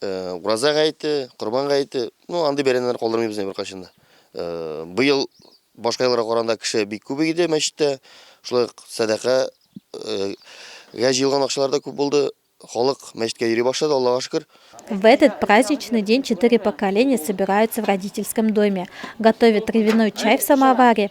Ураза гаете, Корбан гаете, ну андый бәйрәмнәр калдырмыйбыз инде беркайчан да. Быел башка елларга караганда кеше бик күп иде мәчеттә. Шулай ук сәдака гә җыелган акчалар да күп булды. Халык мәчеткә йөри башлады, Аллага шөкер. В этот праздничный день четыре поколения собираются в родительском доме, готовят травяной чай в самоваре,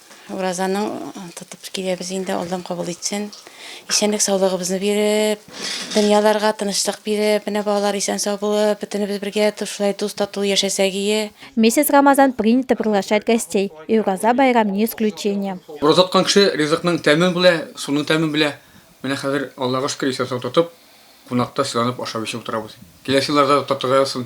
Уразаның тотып киләбез инде, Аллам кабул итсен. Исәнлек саулыгыбызны биреп, дөньяларга тынычлык биреп, менә балалар исән сау булып, бөтенебез бергә шулай дус тату яшәсәк ие. Месяц Рамазан принято приглашать гостей, и Ураза байрам не исключение. Ураза тоткан кеше ризыкның тәмен белә, суның тәмен белә. Менә хәзер, Аллага шөкер, исән-сау тотып, кунакта сыйланып ашап-эчеп утырабыз. Киләсе елларда да татырга язсын.